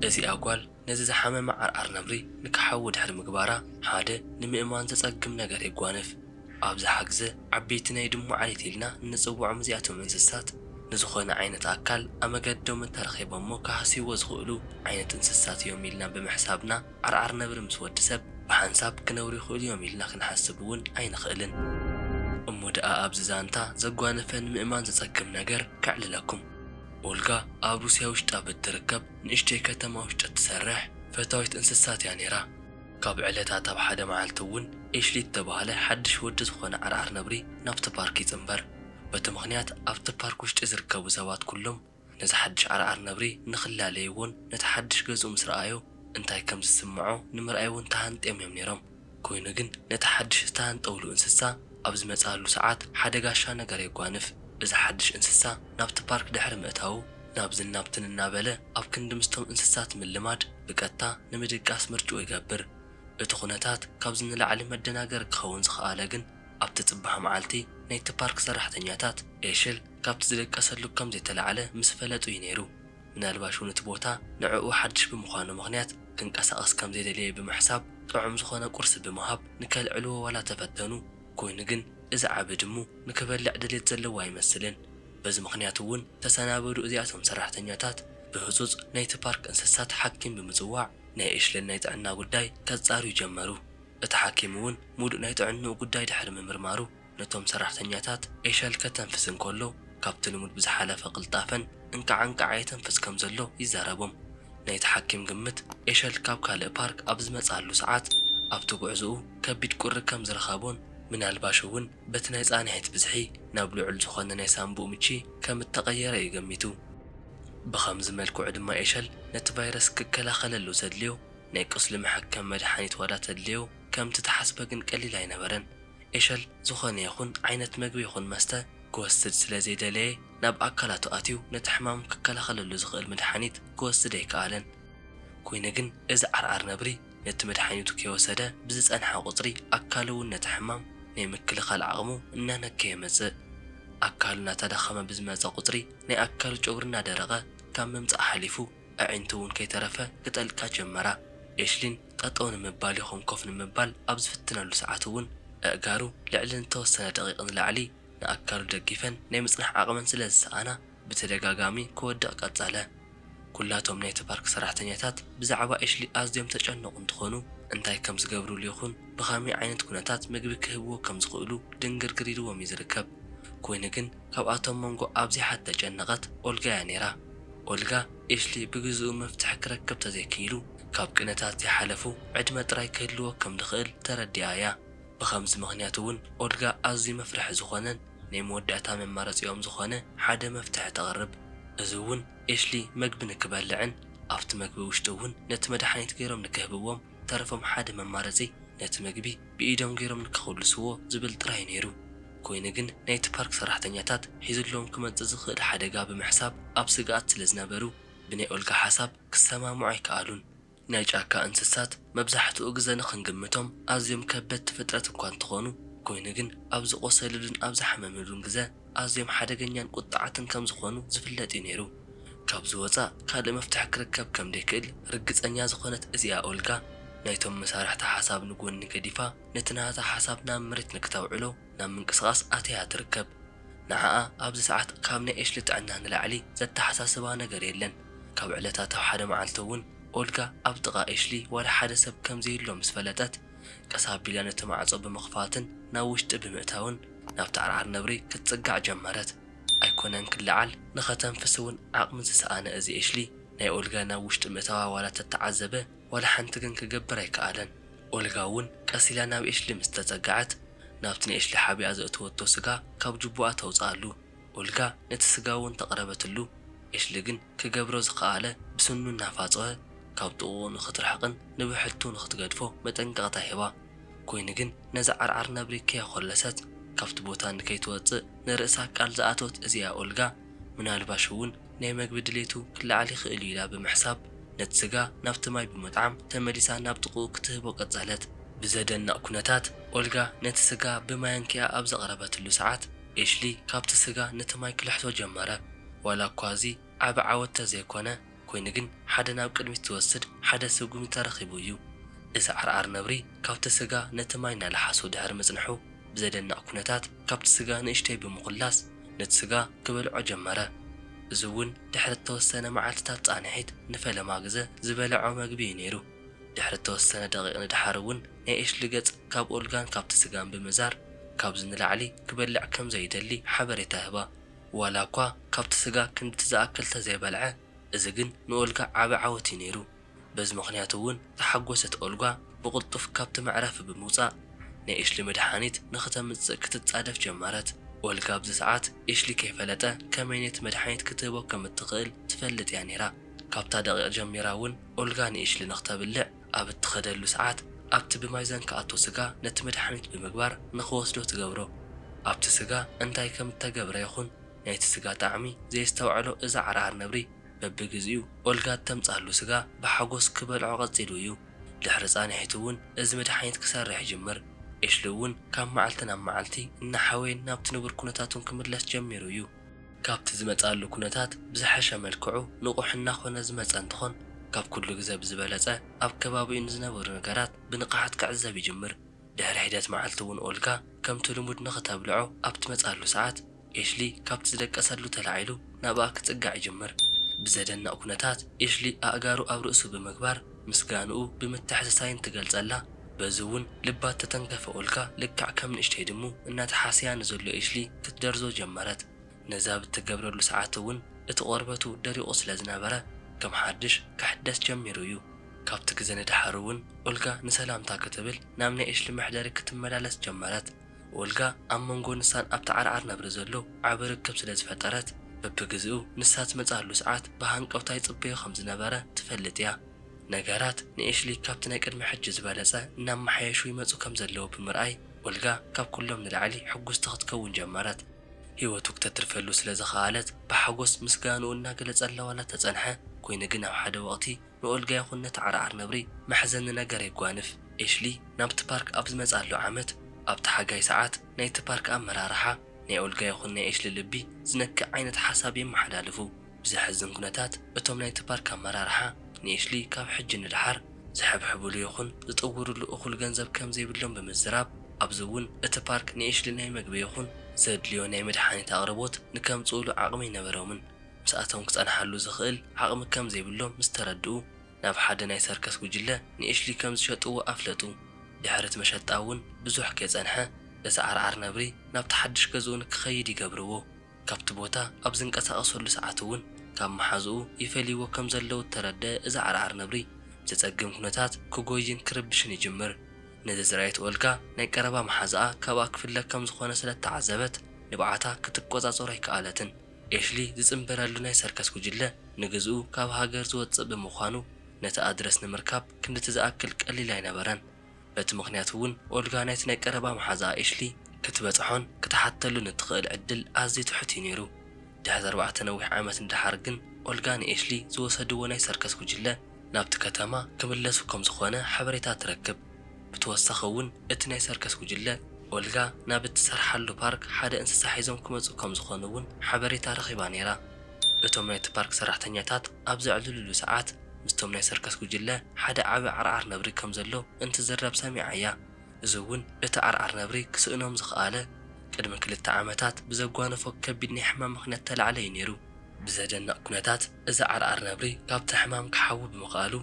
እዚኣ ጓል ነዚ ዝሓመመ ዓርዓር ነብሪ ንክሓዊ ድሕሪ ምግባራ ሓደ ንምእማን ዘጸግም ነገር የጓንፍ። ኣብዝሓ ግዘ ዓበይቲ ናይ ድሙ ዓሌት ኢልና እንጽውዖም እዚኣቶም እንስሳት ንዝኾነ ዓይነት ኣካል ኣመገዶም እንተረኺቦሞ ክሃስይዎ ዝኽእሉ ዓይነት እንስሳት እዮም ኢልና ብምሕሳብና ዓርዓር ነብሪ ምስ ወዲ ሰብ ብሓንሳብ ክነብሩ ይኽእሉ እዮም ኢልና ክንሓስብ እውን ኣይንኽእልን። እሞ ደኣ ኣብዚ ዛንታ ዘጓነፈ ንምእማን ዘጸግም ነገር ከዕልለኩም። ኦልጋ ኣብ ሩስያ ውሽጣ ብእትርከብ ንእሽተይ ከተማ ውሽጢ እትሰርሕ ፈታዊት እንስሳት እያ ነይራ። ካብ ዕለታት ኣብ ሓደ መዓልቲ እውን ኤሽሊ እተባህለ ሓድሽ ወዲ ዝኾነ ዓርዓር ነብሪ ናብቲ ፓርክ ይጽንበር። በቲ ምኽንያት ኣብቲ ፓርክ ውሽጢ ዝርከቡ ሰባት ኩሎም ነዛ ሓድሽ ዓርዓር ነብሪ ንኽላለይዎን ነቲ ሓድሽ ገዝኡ ምስ ረኣዮ እንታይ ከም ዝስምዖ ንምርኣይ'ውን ተሃንጥዮም እዮም ነይሮም። ኰይኑ ግን ነቲ ሓድሽ ዝተሃንጠውሉ እንስሳ ኣብ ዝመጽኣሉ ሰዓት ሓደ ጋሻ ነገር የጓንፍ። እዚ ሓድሽ እንስሳ ናብቲ ፓርክ ድሕሪ ምእታዉ ናብዝን ናብትን እናበለ ኣብ ክንዲ ምስቶም እንስሳት ምልማድ ብቀጥታ ንምድቃስ ምርጭኡ ይገብር። እቲ ኵነታት ካብዚ ንላዕሊ መደናገሪ ክኸውን ዝኸኣለ ግን ኣብቲ ጽባሕ መዓልቲ ናይቲ ፓርክ ሰራሕተኛታት ኤሽል ካብቲ ዝደቀሰሉ ከም ዘይተላዕለ ምስ ፈለጡ እዩ ነይሩ። ምናልባሽ እውን እቲ ቦታ ንዕኡ ሓድሽ ብምዃኑ ምኽንያት ክንቀሳቐስ ከም ዘይደለየ ብምሕሳብ ጥዑም ዝኾነ ቁርሲ ብምሃብ ንከልዕልዎ ዋላ ተፈተኑ። ኮይኑ ግን እዚ ዓቢ ድሙ ንክበልዕ ድሌት ዘለዎ ኣይመስልን። በዚ ምኽንያት እውን ተሰናበዱ እዚኣቶም ሰራሕተኛታት ብህጹጽ ናይቲ ፓርክ እንስሳት ሓኪም ብምጽዋዕ ናይ ኤሽለን ናይ ጥዕና ጉዳይ ከጻርዩ ጀመሩ። እቲ ሓኪም እውን ሙሉእ ናይ ጥዕንኡ ጉዳይ ድሕሪ ምምርማሩ ነቶም ሰራሕተኛታት ኤሸል ከተንፍስ እንከሎ ካብቲ ልሙድ ብዝሓለፈ ቅልጣፈን እንቃዕ እንቃዕ የተንፍስ ከም ዘሎ ይዛረቦም። ናይቲ ሓኪም ግምት ኤሸል ካብ ካልእ ፓርክ ኣብ ዝመጽኣሉ ሰዓት ኣብቲ ጉዕዞኡ ከቢድ ቁሪ ከም ዝረኸቦን ምናልባሽ እውን በቲ ናይ ጻንሒት ብዝሒ ናብ ልዑል ዝኾነ ናይ ሳንቡእ ምቺ ከም እተቐየረ እዩ ገሚቱ። ብኸምዚ መልክዑ ድማ ኤሸል ነቲ ቫይረስ ክከላኸለሉ ዘድልዮ ናይ ቁስሊ መሐከሚ መድሓኒት ዋላ ተድልዮ ከምቲ ተሓስበ ግን ቀሊል ኣይነበረን። ኤሸል ዝኾነ ይኹን ዓይነት መግቢ ይኹን መስተ ክወስድ ስለ ዘይደለየ ናብ ኣካላቱ ኣትዩ ነቲ ሕማም ክከላኸለሉ ዝኽእል መድሓኒት ክወስድ ኣይከኣለን። ኮይኑ ግን እዚ ዓርዓር ነብሪ ነቲ መድሓኒቱ ከይወሰደ ብዝፀንሐ ቁፅሪ ኣካሉ እውን ነቲ ሕማም ናይ ምክልኻል ዓቕሙ እናነከየ መፅእ። ኣካሉ እናተዳኸመ ብዝመፀ ቁፅሪ ናይ ኣካሉ ጨጉሪ እናደረቐ ካብ ምምፃእ ሓሊፉ ኣዒንቲ እውን ከይተረፈ ክጠልቃ ጀመራ። ኤሽሊን ጠጠው ንምባል ይኹን ኮፍ ንምባል ኣብ ዝፍትነሉ ሰዓት እውን ኣእጋሩ ልዕሊ ንተወሰነ ደቒቕ ንላዕሊ ንኣካሉ ደጊፈን ናይ ምፅናሕ ዓቕመን ስለ ዝሰኣና ብተደጋጋሚ ክወድቕ ቀፀለ። ኩላቶም ናይቲ ፓርክ ሰራሕተኛታት ብዛዕባ ኤሽሊ ኣዝዮም ዝተጨነቑ እንትኾኑ እንታይ ከም ዝገብርሉ ይኹን ብኸመይ ዓይነት ኩነታት ምግቢ ክህብዎ ከም ዝኽእሉ ድንግርግር ኢልዎም እዩ ዝርከብ። ኮይኑ ግን ካብኣቶም መንጎ ኣብዚሓ እተጨነቐት ኦልጋ እያ ነይራ። ኦልጋ፣ ኤሽሊ ብግዝኡ መፍትሒ ክረክብ ተዘይክኢሉ ካብ ቅነታት ዘይሓለፉ ዕድመ ጥራይ ክህልዎ ከም ዝኽእል ተረዲኣ እያ። ብኸምዚ ምኽንያት እውን ኦልጋ ኣዝዩ መፍርሒ ዝኾነን ናይ መወዳእታ መማረጺኦም ዝኾነ ሓደ መፍትሒ ተቕርብ። እዚ እውን ኤሽሊ መግቢ ንክበልዕን ኣብቲ መግቢ ውሽጢ እውን ነቲ መድሓኒት ገይሮም ንክህብዎም ተረፎም ሓደ መማረጺ ነቲ መግቢ ብኢዶም ገይሮም ንከኹልስዎ ዝብል ጥራይ ነይሩ። ኮይኑ ግን ናይቲ ፓርክ ሰራሕተኛታት ሒዙሎም ክመጽእ ዝኽእል ሓደጋ ብምሕሳብ ኣብ ስግኣት ስለ ዝነበሩ ብናይ ኦልጋ ሓሳብ ክሰማምዑ ኣይከኣሉን። ናይ ጫካ እንስሳት መብዛሕትኡ ግዘ ንኽንግምቶም ኣዝዮም ከበድቲ ፍጥረት እኳ እንተኾኑ ኮይኑ ግን ኣብ ዝቖሰልሉን ኣብ ዝሓመምሉን ግዘ ኣዝዮም ሓደገኛን ቁጥዓትን ከም ዝኾኑ ዝፍለጥ እዩ ነይሩ። ካብዚ ወጻእ ካልእ መፍትሒ ክርከብ ከም ደይክእል ርግጸኛ ዝኾነት እዚኣ ኦልጋ፣ ናይቶም መሳርሕታ ሓሳብ ንጎኒ ገዲፋ ነቲ ናታ ሓሳብ ናብ መሬት ንክተውዕሎ ናብ ምንቅስቓስ ኣትያ ትርከብ። ንዓኣ ኣብዚ ሰዓት ካብ ናይ ኤሽሊ ጥዕና ንላዕሊ ዘተሓሳስባ ነገር የለን። ካብ ዕለታት ኣብ ሓደ መዓልቲ እውን ኦልጋ ኣብ ጥቓ ኤሽሊ ዋላ ሓደ ሰብ ከም ዘየሎ ምስ ፈለጠት፣ ቀስ ኣቢላ ነቲ ማዕጾ ብምኽፋትን ናብ ውሽጢ ብምእታውን ናብቲ ዓርዓር ነብሪ ክትጽጋዕ ጀመረት። ኣይኮነን ክለዓል ንኸተንፍስ ውን ዓቕሚ ዝሰኣነ እዚ ኤሽሊ ናይ ኦልጋ ናብ ውሽጢ ምእታዋ ዋላ ተተዓዘበ ዋላ ሓንቲ ግን ክገብር ኣይከኣለን ኦልጋ ውን ቀስ ኢላ ናብ ኤሽሊ ምስ ተጸገዐት ናብቲ ንኤሽሊ ሓቢኣ ዘእተወቶ ስጋ ካብ ጅቡኣ ተውጽኣሉ ኦልጋ ነቲ ስጋ ውን ተቕረበትሉ ኤሽሊ ግን ክገብሮ ዝኸኣለ ብስኑ እናፋጸወ ካብ ጥቕኡ ንኽትርሕቕን ንብሕቱ ንኽትገድፎ መጠንቀቕታ ሂባ ኮይኑ ግን ነዛ ዓርዓር ነብሪ ከየኾለሰት ካብቲ ቦታ ንከይትወጽእ ንርእሳ ቃል ዝኣተወት እዚኣ ኦልጋ፣ ምናልባሽ እውን ናይ መግቢ ድሌቱ ክለዓል ይኽእል'ዩ ኢላ ብምሕሳብ፣ ነቲ ስጋ ናብቲ ማይ ብምጥዓም ተመሊሳ ናብ ጥቕኡ ክትህቦ ቀጸለት። ብዘደንቕ ኩነታት፣ ኦልጋ ነቲ ስጋ ብማያንኪኣ ኣብ ዘቕረበትሉ ሰዓት፣ ኤሽሊ ካብቲ ስጋ ነቲ ማይ ክልሕሶ ጀመረ። ዋላ'ኳ እዚ ዓቢ ዓወት ተዘይኮነ፣ ኮይኑ ግን ሓደ ናብ ቅድሚት ዝወስድ ሓደ ስጉሚ ተረኺቡ እዩ። እዚ ዓርዓር ነብሪ ካብቲ ስጋ ነቲ ማይ እናለሓሶ ድሕሪ ምጽንሑ ብዘደንቕ ኩነታት ካብቲ ስጋ ንእሽተይ ብምኹላስ ነቲ ስጋ ክበልዖ ጀመረ። እዚ እውን ድሕሪ እተወሰነ መዓልትታት ጻንሒት ንፈለማ ግዘ ዝበልዖ መግቢ እዩ ነይሩ። ድሕሪ እተወሰነ ደቒቕ ንደሓር እውን ናይ ኤሽሊ ገጽ ካብ ኦልጋን ካብቲ ስጋን ብምዛር ካብዚ ንላዕሊ ክበልዕ ከም ዘይደሊ ሓበሬታ ህባ። ዋላ እኳ ካብቲ ስጋ ክንድቲ ዝኣክል ተዘይበልዐ፣ እዚ ግን ንኦልጋ ዓቢ ዓወት እዩ ነይሩ። በዚ ምኽንያት እውን ዝሓጎሰት ኦልጋ ብቕልጡፍ ካብቲ መዕረፊ ብምውጻእ ናይ ኤሽሊ መድሓኒት ንኽተምጽእ ክትጻደፍ ጀመረት። ኦልጋ ኣብዚ ሰዓት ኤሽሊ ከይፈለጠ ከመይ ነቲ መድሓኒት ክትህቦ ከም እትኽእል ትፈልጥ እያ ነይራ። ካብታ ደቒቕ ጀሚራ እውን ኦልጋ ንኤሽሊ ንኽተብልዕ ኣብ እትኸደሉ ሰዓት ኣብቲ ብማይዛን ክኣቶ ስጋ ነቲ መድሓኒት ብምግባር ንኽወስዶ ትገብሮ። ኣብቲ ስጋ እንታይ ከም እተገብረ ይኹን ናይቲ ስጋ ጣዕሚ ዘየስተውዐሎ እዚ ዓርዓር ነብሪ በብግዜኡ ኦልጋ እተምጽኣሉ ስጋ ብሓጎስ ክበልዖ ቀጺሉ እዩ። ድሕሪ ጻንሒት እውን እዚ መድሓኒት ክሰርሕ ይጅምር። ኤሽሊ እውን ካብ መዓልቲ ናብ መዓልቲ እናሓወየን ናብቲ ንቡር ኩነታቱን ክምለስ ጀሚሩ እዩ። ካብቲ ዝመጽኣሉ ኩነታት ብዝሐሸ መልክዑ ንቑሕ እናኾነ ዝመጸ እንትኾን ካብ ኩሉ ግዘ ብዝበለጸ ኣብ ከባቢኡ ንዝነበሩ ነገራት ብንቕሓት ክዕዘብ ይጅምር። ድሕሪ ሒደት መዓልቲ እውን ኦልጋ ከምቲ ልሙድ ንኽተብልዖ ኣብ ትመጽኣሉ ሰዓት ኤሽሊ ካብቲ ዝደቀሰሉ ተላዒሉ ናብኣ ክጽጋዕ ይጅምር። ብዘደንቕ ኩነታት ኤሽሊ ኣእጋሩ ኣብ ርእሱ ብምግባር ምስጋንኡ ብምትሕስሳይን ትገልጸላ በዚ ውን ልባ ተተንከፈኡልካ ልክዕ ከም ንእሽተይ ድሙ እናተሓሰያ ንዘሎ ኤሽሊ ክትደርዞ ጀመረት ነዛ ብትገብረሉ ሰዓት ውን እቲ ቆርበቱ ደሪቁ ስለ ዝነበረ ከም ሓድሽ ክሕደስ ጀሚሩ እዩ ካብቲ ግዘ ንደሓር ውን ኦልጋ ንሰላምታ ክትብል ናብ ናይ ኤሽሊ መሕደሪ ክትመላለስ ጀመረት ኦልጋ ኣብ መንጎ ንሳን ኣብቲ ዓርዓር ነብሪ ዘሎ ዓቢ ርክብ ስለ ዝፈጠረት፣ በብግዜኡ ንሳ ትመጽኣሉ ሰዓት ብሃንቀውታ ይጽበዮ ከም ዝነበረ ትፈልጥ እያ። ነገራት ንኤሽሊ ካብቲ ናይ ቅድሚ ሕጂ ዝበለጸ እናመሓየሹ ይመጹ ከም ዘለዉ ብምርኣይ፣ ኦልጋ ካብ ኵሎም ንላዕሊ ሕጕስቲ ክትከውን ጀመረት። ህይወቱ ክተትርፈሉ ስለ ዝኸኣለት ብሓጐስ ምስጋንኡ እናገለጸላ ዋላ እተጸንሐ ኰይኑ ግን ኣብ ሓደ ወቕቲ ንኦልጋ ይኹን ነቲ ዓርዓር ነብሪ መሕዘኒ ነገር የጓንፍ። ኤሽሊ ናብቲ ፓርክ ኣብ ዝመጽኣሉ ዓመት፣ ኣብቲ ሓጋይ ሰዓት፣ ናይቲ ፓርክ ኣመራርሓ፣ ናይ ኦልጋ ይኹን ናይ ኤሽሊ ልቢ ዝነክእ ዓይነት ሓሳብ የመሓላልፉ። ብዘሕዝን ኩነታት፣ እቶም ናይቲ ፓርክ ኣመራርሓ፣ ንኤሽሊ ካብ ሕጂ ንደሓር ዝሕብሕቡሉ ይኹን ዝጥውሩሉ እኹል ገንዘብ ከም ዘይብሎም ብምዝራብ፣ ኣብዚ እውን እቲ ፓርክ ንኤሽሊ ናይ መግቢ ይኹን ዘድልዮ ናይ መድሓኒት ኣቕርቦት ንከምጽኡሉ ዓቕሚ ኣይነበሮምን። ምስኣቶም ክጸንሓሉ ዝኽእል ዓቕሚ ከም ዘይብሎም ምስ ተረድኡ፣ ናብ ሓደ ናይ ሰርከስ ጕጅለ ንኤሽሊ ከም ዝሸጥዎ ኣፍለጡ። ድሕሪ'ቲ መሸጣ እውን ብዙሕ ከይጸንሐ፣ እቲ ዓርዓር ነብሪ ናብቲ ሓድሽ ገዝኡ ንክኸይድ ይገብርዎ። ካብቲ ቦታ ኣብ ዝንቀሳቐሰሉ ሰዓት እውን ካብ መሓዝኡ ይፈልይዎ ከም ዘለዉ እተረድአ እዚ ዓርዓር ነብሪ፣ ብዘጸግም ኵነታት ክጐይን ክርብሽን ይጅምር። ነዚ ዝረኣየት ኦልጋ፣ ናይ ቀረባ መሓዝኣ ካብኣ ክፍለ ከም ዝዀነ ስለ እተዓዘበት፣ ንብዓታ ክትቈጻጸሮ ኣይከኣለትን። ኤሽሊ ዝጽንበረሉ ናይ ሰርከስ ጉጅለ ንግዝኡ ካብ ሃገር ዝወጽእ ብምዃኑ፣ ነቲ ኣድረስ ንምርካብ ክንድቲ ዝኣክል ቀሊል ኣይነበረን። በቲ ምኽንያት'ውን ኦልጋ ናይቲ ናይ ቀረባ መሓዝኣ ኤሽሊ ክትበጽሖን ክትሓተሉን እትኽእል ዕድል ኣዝዩ ትሑት እዩ ነይሩ። ድሕሪ ኣርባዕተ ነዊሕ ዓመት ንደሓር ግን ኦልጋ ንኤሽሊ ዝወሰድዎ ናይ ሰርከስ ጉጅለ፣ ናብቲ ከተማ ክምለሱ ከም ዝኾነ ሓበሬታ ትረክብ። ብተወሳኺ እውን እቲ ናይ ሰርከስ ጉጅለ፣ ኦልጋ ናብ እትሰርሓሉ ፓርክ ሓደ እንስሳ ሒዞም ክመጹ ከም ዝኾኑ እውን ሓበሬታ ረኺባ ነይራ። እቶም ናይቲ ፓርክ ሰራሕተኛታት ኣብ ዘዕልሉሉ ሰዓት፣ ምስቶም ናይ ሰርከስ ጉጅለ ሓደ ዓቢ ዓርዓር ነብሪ ከም ዘሎ እንትዝረብ ሰሚዓ እያ። እዚ እውን እቲ ዓርዓር ነብሪ ክስእኖም ዝኸኣለ፣ ቅድሚ ክልተ ዓመታት ብዘጓነፎ ከቢድ ናይ ሕማም ምኽንያት ተላዕለ እዩ ነይሩ። ብዘደንቕ ኩነታት እዚ ዓርዓር ነብሪ ካብቲ ሕማም ክሓዊ ብምኽኣሉ፣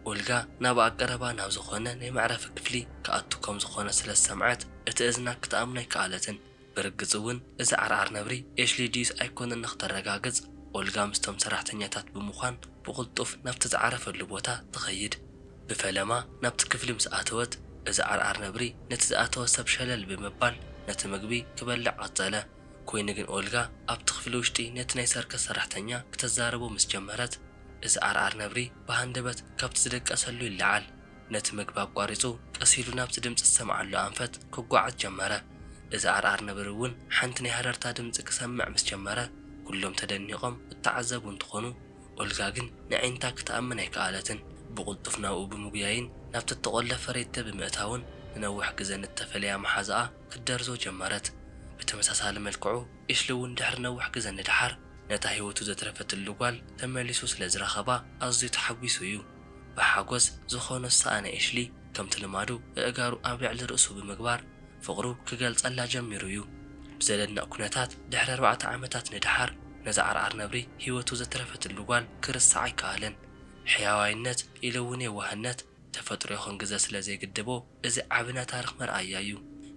ኦልጋ ናብኣ ቀረባ ናብ ዝኾነ ናይ መዕረፊ ክፍሊ ክኣቱ ከም ዝኾነ ስለ ዝሰምዐት፣ እቲ እዝና ክትኣምኖ ኣይከኣለትን። ብርግጽ'ውን እዚ ዓርዓር ነብሪ ኤሽሊ ድዩስ ኣይኮነን ንኽተረጋግጽ፣ ኦልጋ ምስቶም ሰራሕተኛታት ብምዃን ብቕልጡፍ ናብቲ ዝዓረፈሉ ቦታ ትኸይድ። ብፈለማ ናብቲ ክፍሊ ምስ ኣተወት፣ እዚ ዓርዓር ነብሪ ነቲ ዝኣተወ ሰብ ሸለል ብምባል ነቲ ምግቢ ክበልዕ ቀጸለ። ኰይኑ ግን ኦልጋ ኣብቲ ክፍሊ ውሽጢ ነቲ ናይ ሰርከስ ሰራሕተኛ ክተዛርቦ ምስ ጀመረት፣ እዚ ዓርዓር ነብሪ ብሃንደበት ካብቲ ዝድቀሰሉ ይለዓል። ነቲ ምግቢ ኣቋሪጹ ቀስ ኢሉ ናብቲ ድምጺ ዝሰምዓሉ ኣንፈት ክጓዓዝ ጀመረ። እዚ ዓርዓር ነብሪ እውን ሓንቲ ናይ ሃረርታ ድምጺ ክሰምዕ ምስ ጀመረ፣ ኵሎም ተደኒቖም እተዓዘቡ እንትዀኑ፣ ኦልጋ ግን ነዒንታ ክትኣምን ኣይከኣለትን። ብቕልጡፍ ናብኡ ብምጕያይን ናብቲ እተቖለፈ ሬቴ ብምእታውን ንነዊሕ ግዘ ንእተፈለያ መሓዛኣ ክትደርዞ ጀመረት። ብተመሳሳሊ መልክዑ ኤሽሊ እውን ድሕሪ ነዊሕ ግዘ ንደሓር ነታ ህይወቱ ዘትረፈትሉ ጓል ተመሊሱ ስለ ዝረኸባ ኣዝዩ ተሓጒሱ እዩ። ብሓጎስ ዝኾኖ ዝሰኣነ ኤሽሊ ከምቲ ልማዱ እእጋሩ ኣብ ልዕሊ ርእሱ ብምግባር ፍቕሩ ክገልፀላ ጀሚሩ እዩ። ብዘደንቕ ኩነታት ድሕሪ ኣርባዕተ ዓመታት ንደሓር ነዛ ዓርዓር ነብሪ ህይወቱ ዘትረፈትሉ ጓል ክርሳዕ ኣይከኣለን። ሕያዋይነት ኢሉ እውን የዋህነት ተፈጥሮ ይኹን ግዘ ስለ ዘይግድቦ እዚ ዓቢ ናይ ታርኽ መርኣያ እዩ።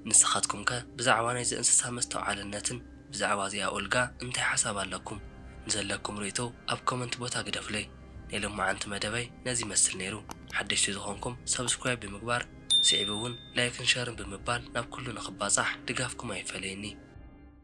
ንስኻትኩም ከ ብዛዕባ ናይዚ እንስሳ መስተውዓልነትን ብዛዕባ እዚኣ ኡልጋ እንታይ ሓሳብ ኣለኩም? ንዘለኩም ርእይቶ ኣብ ኮመንት ቦታ ግደፉለይ። ናይ ሎማዓንቲ መደበይ ነዚ ይመስል ነይሩ። ሓደሽቲ ዝኾንኩም ሳብስክራይብ ብምግባር ስዒቡ ውን ላይክን ሸርን ብምባል ናብ ኩሉ ንኽባጻሕ ድጋፍኩም ኣይፈለየኒ።